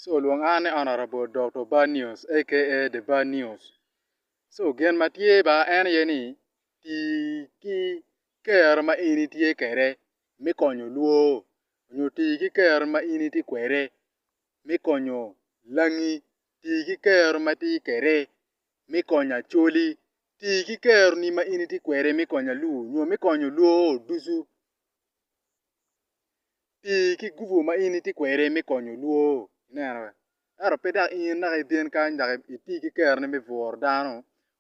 so olwong an ni honourable Dokto Bad News aka The Bad News so gin ma tye ba en aye ni tii ki kero ma in itye kwede me konyo lwoo nyo tii ki kero ma in itye kwede me konyo langi, tii ki kero ma itye kwede me konyo Acholi, tii ki keroni ma in itye kwede me konyo Aluo nyo me konyo lwoo ducu. Pi ki gubu ma in itye kwede me konyo lwor, ineno, ento pe dok in naka ibin kany dok iti ki keroni me bwuro dano,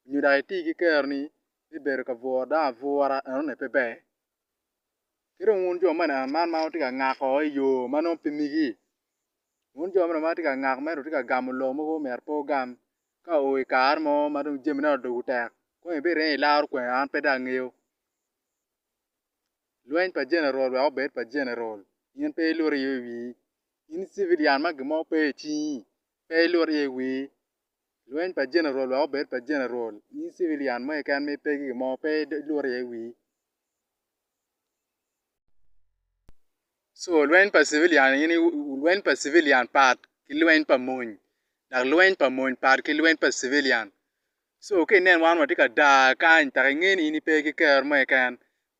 nyo dok iti ki keroni me bedo ka bwuro dano abwura, enoni pe ber. Ki dong wun jo mene, man ma wutye ka ngako i yo ma nongo pe migi, wun jo mene ma wutye ka ngako ma ento wutye ka gamo lo mogo ma omyero pe wugam, ka o i kare mo ma dong jamine odoko tek, kong ibireny ilaro kwena, an pe dong angeyo. lweny pa general wek obed pa general in pe ilut iye wi wii in civilian ma gin mo pe i cingi pe ilut iye i wii lweny pa general wek obed pa general in civilian mo keken ma ipe ki gin mo pe ilut iye i wii So, lweny pa civilian aye ni lweny pa civilian pat ki lweny pa mony dok lweny pa mony pat ki lweny pa civilian. So ka ineno wan watye ka dar kany dok inge ni in ipe ki ker mo keken,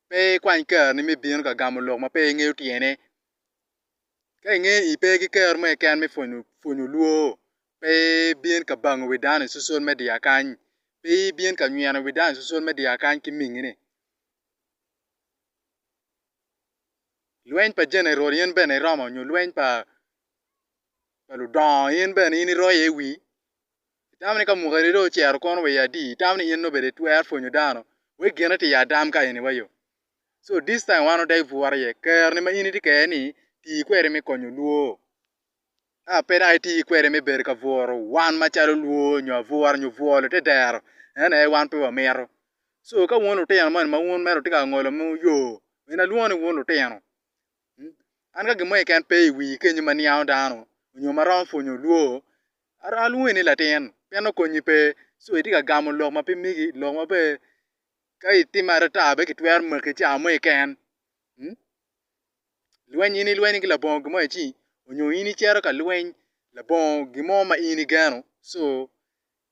pe ikwany kerni me bino ka gamo lok ma pe ingeyo tyene. Ka inge ni ipe ki ker mo keken me pwonyo pwonyo lwor, pe ibin ka bango wi dano i social media kany, pe ibin ka nyweno wi dano i social media kany ki mingini. lweny pa jenerol in bene iromo nyo lweny pa ludongo in bene in iroyo iye wii? Itamo ni ka mukene dong ocito kono wa i adi itamo ni in dong obed itwero pwonyo dano wek gine tye i adam ka eni wa yo? So this time wan odegi bwot iye, ker ni ma in itye kede ni tii kwede me konyo lwoo. a pe dok iti kwede me bedo ka bworo wan macalo lwor nyo abwura nyo bwolo te dero, en aye wan pe wamito. So ka wun lutino moni ma wun mere wutye ka ngolo mo yo, mino alwongo ni wun lutino. An ka gin mo keken pe i wii kenyo ma niango dano nyo ma romo pwonyo lwor, aromo alwongi ni latin pien nongo konyi pe. So itye ka gamo lok ma pe migi, lok ma pe ka itime adada bene kitwero maki i cawa mo keken. lweny in ilwenyo ki labongo gin mo aye ci onyo in icito ka lweny labongo gin mo ma in igeno co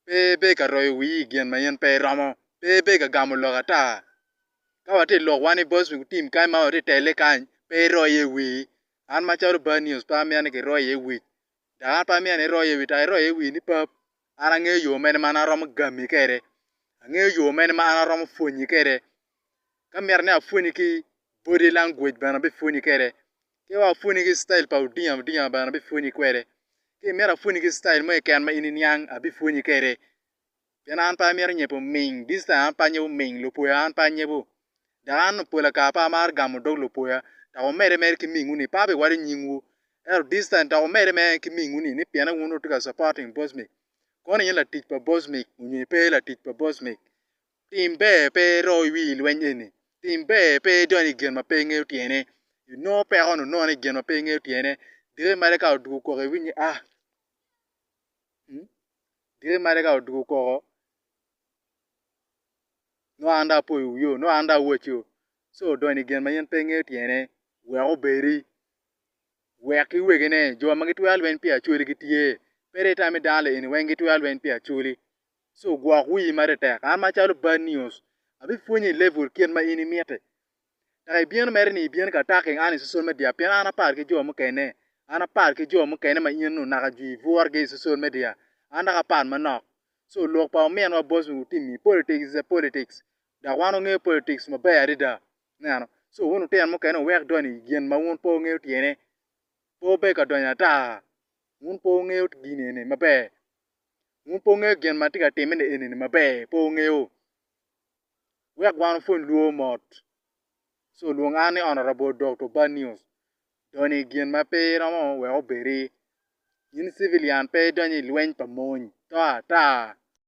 pe ibe ka royo wii i gin ma in pe iromo pe ibe ka gamo lok ata ka watye ilok wa ni boc me gutim kany ma watye tele kany pe iroo iye wii an macalo bad news pe amyero ni kiroo iye wii dok an pe amyero ni iroo iye wii tek iroo iye wii ni pap an angeyo yoo mene ma an aromo gami kede angeyo yoo mene ma an aromo pwonyi kede Ka myero ni apwonyi ki body language bene abipwonyi kwede. Ki wek apwonyi ki citail pa Odinga Odinga bene abipwonyi kwede. Ki myero apwonyi ki citail mo keken ma in iniang abipwonyi kwede. Pien an pe amyero nyebo oming, this time an pe anyebo oming, lupwoya an pe anyebo. Dok an pol kare pe amaro gamo dog lupwoya. Dok wumedde mere ki mingwu ni pe abiwaco nyingwu. Ento this time dok wumedde mere ki mingwu ni ni pienne wun wutye ka supporting Bosmic. Kono in latic pa Bosmic nyo pe latic pa Bosmic? Tim ber pe iro i wi lweny eni. Tim ber pe idony i gin ma pe ingeyo tyene. Inongo peko ni onone i gin ma pe ingeyo tyene. Dire mere ka odwogo koko iwiny ni ah dire mere ka odwogo koko nongo an dong apoyo wiyo nongo an dong awaco ci odony i gin ma in pe ingeyo tyene wek obedi wek ki wegine jo ma gitwero lweny pi Acholi gitye. Pe itam ni dano lieni weng gitwero lweny pi Acholi. ci ogwok wii ma tetek. An macalo bad news, abipwonyi i level kit ma in imiti. Dok ibino mere ni ibino ka attacking an i social media pien an apar ki jo mukene. An apar ki jo mukene ma in nu naka jwi iburgi i social media. An dok apat manok. So lok pa ominwa boss mi utimi, politics is a politics. Dok wan wangeyo politics maber adada. Ineno? So wun lutino mukene wuwek donyo i gin ma wun pe wungeyo tyene. Pe wubed ka donyo ata. Wun pe wungeyo gin eni maber. Wun pe wungeyo gin ma atye ka timme ni eni-ni maber, pe wungeyo? Wek wan wupwony lwor mot. Ci olwong an ni Honourable Doctor Bad News, doni gin ma pe iromo wek obedi. In civilian pe idonyo i lweny pa mony, to ata!